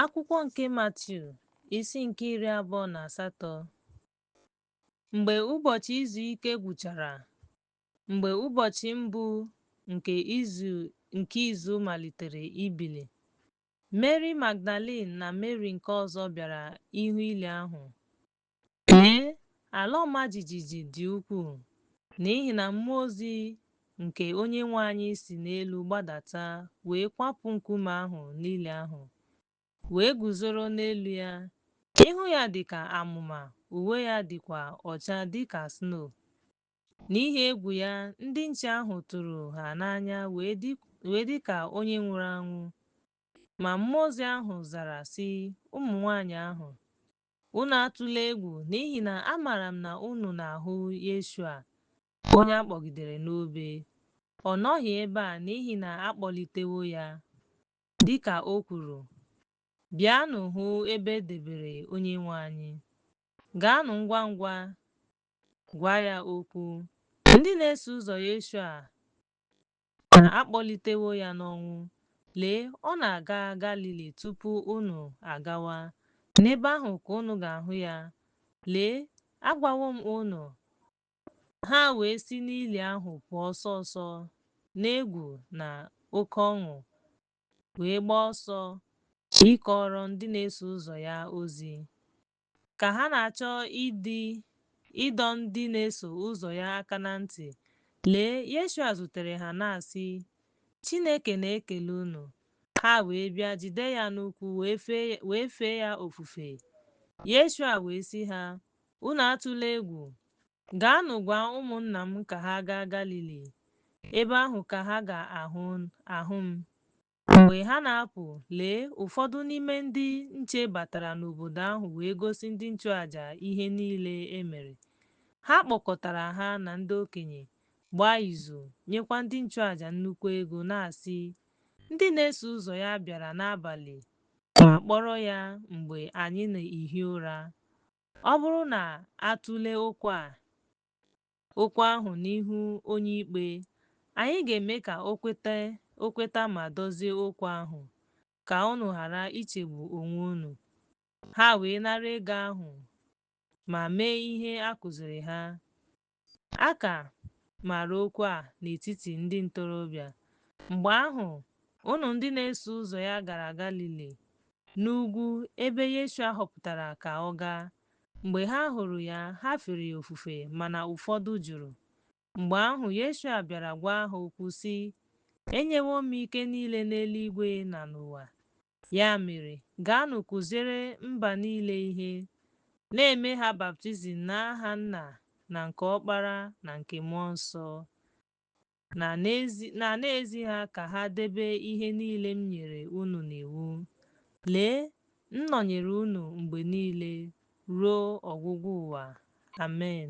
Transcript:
Akwụkwọ nke Matiu isi nke iri abụọ na asatọ Mgbe ụbọchị izu ike gwụchara, mgbe ụbọchị mbụ nke izu malitere ibili, Meri Magdalin na Meri nke ọzọ bịara ịhụ ili ahụ. Lee, ala ọma jijiji dị ukwuu, n'ihi na mmụọ ozi nke onye nwe anyị si n'elu gbadata wee kwapụ nkume ahụ n'ili ahụ, wee guzoro n'elu ya, ihu ya dị ka amụma, uwe ya dịkwa ọcha dị ka snow. N'ihi egwu ya, ndị nche ahụ tụrụ ha n'anya wee dị ka onye nwụrụ anwụ. Ma mmụọ ozi ahụ zara, sị ụmụ nwaanyị ahụ, Unu atụla egwu, n'ihi na amaara m na unu na-ahụ Yeshua, onye a kpọgidere n'obe. Ọ nọghị ebe a n'ihi na a kpọlitewo ya, dị ka o kwuru. Bịanụ hụ ebe e debere Onyenwe anyị. Gaanụ ngwa ngwa gwa ya okwu. Ndị na-eso ụzọ Yeshua Na a kpọlitewo ya n'ọnwụ. Lee, ọ na-aga Galili tupu unu agawa. N'ebe ahụ ka unu ga-ahụ ya. Lee, agwawo m unu. Ha wee si n'ili ahụ pụọ ọsọ ọsọ n'egwu na oke ọṅụ, wee gbaa ọsọ ịkọrọ ndị na-eso ụzọ ya ozi. Ka ha na-achọ ịdọ ndị na-eso ụzọ ya aka na ntị, lee, Yeshua zutere ha na-asị, Chineke na-ekele unu. Ha wee bịa jide ya n'ụkwụ wee fee ya ofufe. Yeshua wee sị ha, Unu atụla egwu. Gaanụ gwa ụmụnna m ka ha gaa Galili. Ebe ahụ ka ha ga-ahụ m. Mgbe ha na-apụ, lee, ụfọdụ n'ime ndị nche batara n'obodo ahụ wee gosi ndị nchụaja ihe niile e mere. Ha kpọkọtara ha na ndị okenye, gbaa izu, nyekwa ndị nchụaja nnukwu ego, na-asị, Ndị na-eso ụzọ ya bịara n'abalị ma kpọrọ ya mgbe anyị na-ehi ụra. Ọ bụrụ na a tụlee okwu a, okwu ahụ n'ihu onye ikpe, anyị ga-eme ka o kweta ma dozie okwu ahụ, ka unu ghara ichegbu onwe unu. Ha wee nara ego ahụ ma mee ihe a kụziri ha. A ka maara okwu a n'etiti ndị ntorobịa. Mgbe ahụ, unu ndị na-eso ụzọ ya gara Galili, n'ugwu ebe Yeshua họpụtara ka ọ gaa. Mgbe ha hụrụ ya, ha fere ya ofufe, mana ụfọdụ jụrụ. Mgbe ahụ, Yeshua bịara gwa ha okwu sị, Enyewo m ike niile n'eluigwe na n'ụwa. Ya mere, gaanụ kụziere mba niile ihe, na-eme ha baptizim n'aha Nna na nke Ọkpara na nke Mmụọ Nsọ. na na-ezi ha ka ha debe ihe niile m nyere unu n'iwu. Lee, m nọnyere unu mgbe niile ruo ọgwụgwụ ụwa. Amen.